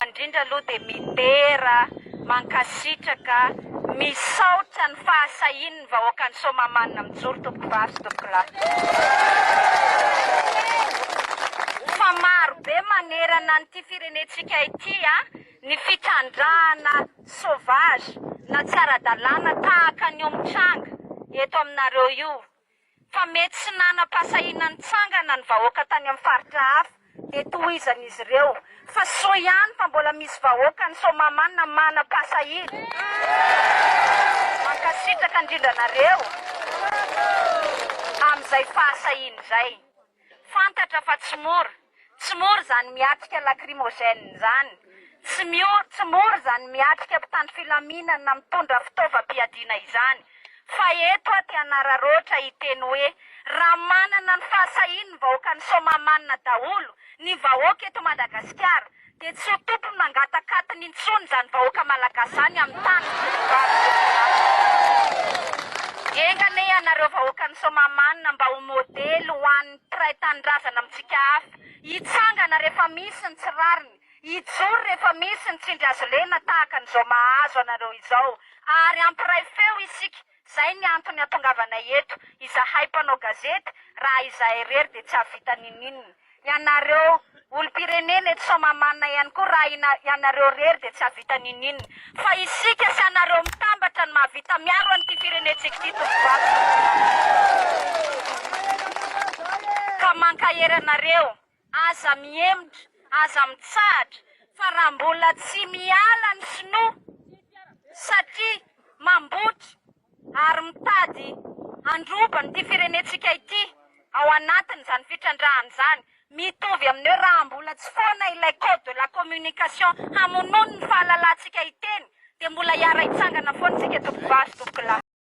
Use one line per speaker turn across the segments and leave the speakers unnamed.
Indrindra aloha dia midera, mankasitraka, misaotra ny fahasahian'ny vahoakan'i Soamahamanina mijoro tompoko vavy sy tompoko lahy. Fa maro be manerana an'ity firenentsika ity ny fitrandrahana sauvage na tsy ara-dalàna tahaka an'io mitranga eto aminareo io. Fa mety tsy nanam-pahasahiana nitsangana ny vahoaka tany amin'ny faritra hafa dia tohizan'izy ireo fa soa ihany fa mbola misy vahoaka any Soamahamanina manam-pahasahiana. Mankasitraka indrindra anareo amin'izay fahasahiana izay. Fantatra fa tsy mora, tsy mora izany miatrika lacrymogène izany, tsy miory, tsy mora izany miatrika mpitandro filaminana na mitondra fitaovam-piadiana izany, fa eto aho te hanararaotra hiteny hoe, raha manana ny fahasahiany ny vahoakan'i Soamahamanina daholo, ny vahoaka eto Madagasikara, Dia tsy ho tokony mangatakatiny intsony izany vahoaka malagasy izany amin'ny tany voavariny. Enga anie ianareo vahoakan'i Soamahamanina mba ho modely ho an'ny mpiray tanindrazana amintsika hafa. Hitsangana rehefa misy ny tsy rariny, hijoro rehefa misy ny tsindry hazolena tahaka an'izao mahazo anareo izao, ary hampiray feo isika Zay ny antony atongavanay eto izahay mpanao gazety raha izahay irery dia tsy hahavita ninininona. Ianareo olompirenena eto Soamahamanina ihany koa raha ina ianareo irery dia tsy hahavita ninininona. Fa isika sy anareo mitambatra no mahavita miaro an'ity firenentsika ity Tompovato. Ka mankahery anareo Aza mihemotra, aza mitsahatra fa raha mbola tsy miala ny sinoa satria mambotry ary mitady handroba an'ity firenentsika ity ao anatin'izany fitrandrahana izany, mitovy amin'ny hoe raha mbola tsy foana ilay code de la communication hamonoany ny fahalalantsika hiteny dia mbola hiara-hitsangana foana isika tompokivavy sy tompokolahy.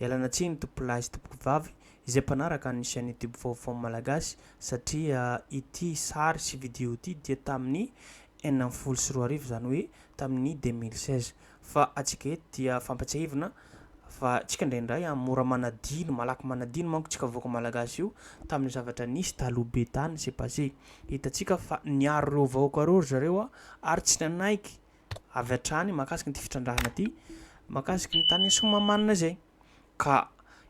Ialana tsiny tompolahy sy tompokovavy izay mpanaraka ny chaîne YouTube Vaovao Malagasy satria ity sary sy vidéo ity dia tamin'ny enina ambin'ny folo sy roa arivo izany hoe tamin'ny deux mille seize fa antsika eto dia fampatsiahivina fa tsika indraindray an mora manadino malaky manadino manko tsika vahoaka Malagasy io tamin'ny zavatra nisy taloha be tany c'est passé hitantsika fa niaro ireo vahoaka ireo ry zareo ary tsy nanaiky avy hatrany mahakasika an'ity fitrandrahana ity mahakasika ny tany Soamahamanina izay. Ka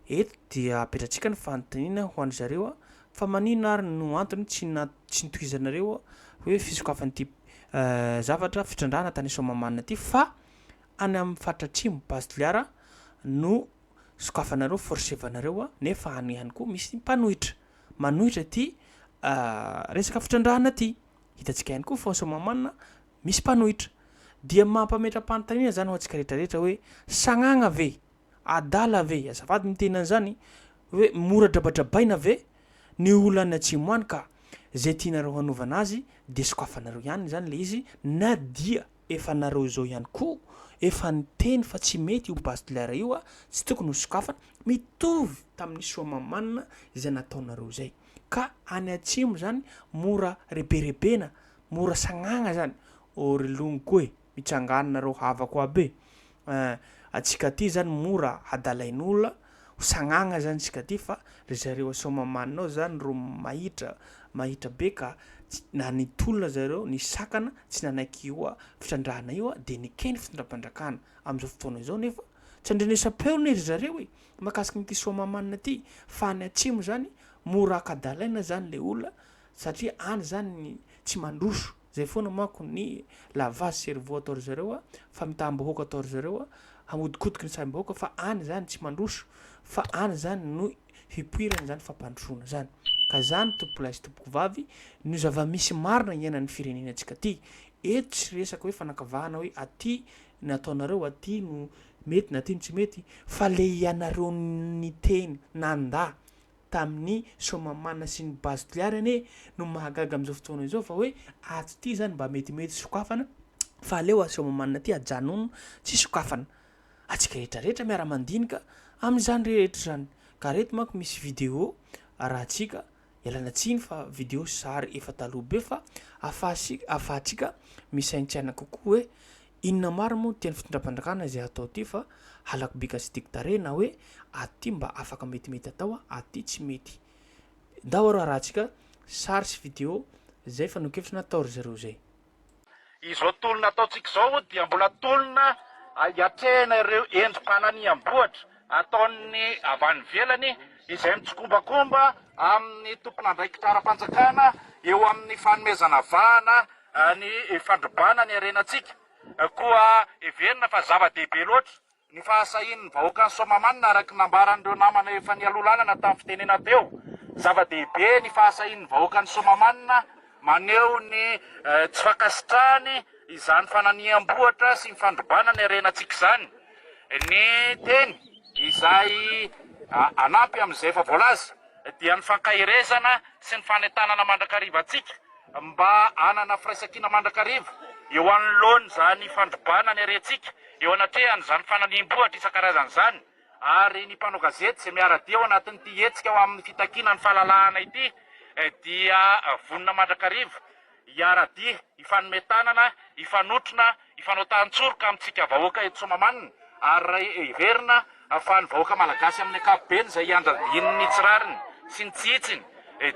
eto dia apetratsika ny fanontaniana ho an-dry zareo fa maninona ary no antony tsy tsy notohizanareo hoe fisokafan'ity zavatra fitrandrahana tany Soamahamanina ity fa any amin'ny faritra atsimo base Toliara no sokafanareo forsevanareo nefa any ihany koa misy mpanohitra manohitra ity resaka fitrandrahana ity. Hitantsika ihany koa fa ao Soamahamanina. misy mpanohitra. Dia mampametra-panontaniana izany ho antsika rehetra rehetra hoe sagnagna ve? Adala ve? Azafady ny teny an'izany hoe mora drabadrabaina ve ny olona any atsimo any ka izay tianareo hanaovana azy dia sokafanareo ihany izany ilay izy na dia efa nareo izao ihany koa efa niteny fa tsy mety io base de l'air io a, tsy tokony ho sokafana, mitovy tamin'ny soamamanina izay nataonareo izay ka any atsimo izany mora reberebena Mora sagnagna zany ô ry longoko e, mitsangana nareo havako aby e, eh, antsika aty zany mora hadalain'ola, ho sagnagna zany tsika aty fa ry zareo Soamahamanina ao zany ro mahitra, mahitra be ka tsy, na nitolona zareo, nisakana, tsy nanaiky io a fitrandrahana io a de nekeny fitondram-pandrakana, amzao fotoana zao nefa tsy andrenesam-peo ne ry zareo e, mahakasiky an'ity Soamahamanina ty, fa any atsimo zany mora hakadalaina zany le ola, satria any izany tsy mandroso, izay foana manko ny la vache cerveau ataon-dry zareo a, famitam-bahoaka ataon-dry zareo a, hahodikotiky ny saim-bahoaka fa any izany tsy mandroso fa any izany no hipoirany izany fampandrosoana izany. Ka izany tompokolahy sy tompokovavy no zava-misy marina iainan'ny firenenantsika ity. Eto tsy resaka hoe fanakavahana hoe aty no ataonareo, aty no mety na aty no tsy mety fa le ianareo niteny, nandà, tamin'ny Soamamana sy ny Base Toliary anie no mahagaga amin'izao fotoana izao fa hoe ato ity izany mba metimety sokafana fa aleo ato Soamamana ity ajanony tsy sokafana antsika rehetra rehetra miara-mandinika amin'izany rehetra izany ka reto manko misy video arahantsika ialana tsiny fa video sy sary efa taloha be fa afahantsika misaintsaina kokoa hoe Inona marina moa no tian'ny fitondram-panjakana izay hatao ity fa halako bika sy diky tarehy na hoe ato ity mba afaka metimety atao ato ity tsy mety. Ndao aro harahantsika sary sy video izay fanehoan-kevitra natao ry zareo izay. Izao
tolona ataontsika izao hono dia mbola tolona iatrehana ireo endri-pananiham-bohitra ataon'ny avy any ivelany izay mitsikombakomba amin'ny tompon'andraikitra ara-panjakana eo amin'ny fanomezana vahana ny fandrobana ny harenantsika, koa heverina fa zava-dehibe loatra ny fahasahian'ny vahoakan'i Soamahamanina araka ny nambaran'ireo namana efa nialoha lalana tamin'ny fitenena teo. Zava-dehibe ny fahasahian'ny vahoakan'i Soamahamanina maneho ny tsy fankasitrahany izany fananiham-bohitra sy ny fandrobana ny harenantsika izany ny teny izay hanampy amin'izay efa voalaza dia ny fankaherezana sy ny fanentanana mandrakariva antsika Mba hanana firaisankina mandrakariva eo anoloan'izany fandrobana ny harentsika eo anatrehan'izany fanalihim-bohitra isan-karazany izany ary ny mpanao gazety izay miara-dia ao anatin'ity hetsika ho amin'ny fitakiana ny fahalalahana ity dia vonona mandrakariva hiara-dia, hifanome tanana, hifanotrona, Hifanaotahan-tsoroka amintsika vahoaka eto Soamahamanina ary raha heverina fa ny vahoaka malagasy amin'ny ankapobeny izay iandradiany ny tsy rariny sy ny tsy hitsiny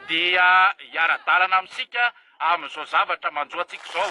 dia hiara-dalana amintsika amin'izao zavatra manjo antsika izao.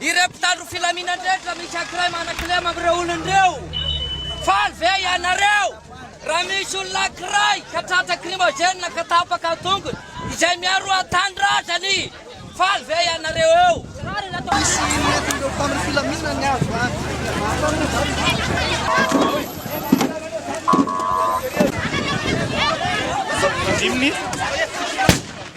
Ireo mpitandro filaminana rehetra misy ankiray manakilema amin'ireo olona ireo. Faly ve ianareo raha misy olona ankiray ka tratra krimogena ka tapaka ny tongony izay miaro an-tanindrazany? Faly ve ianareo eo? Misy nentin'ireo mpitandro filaminana ny azo antoka. Andiminy.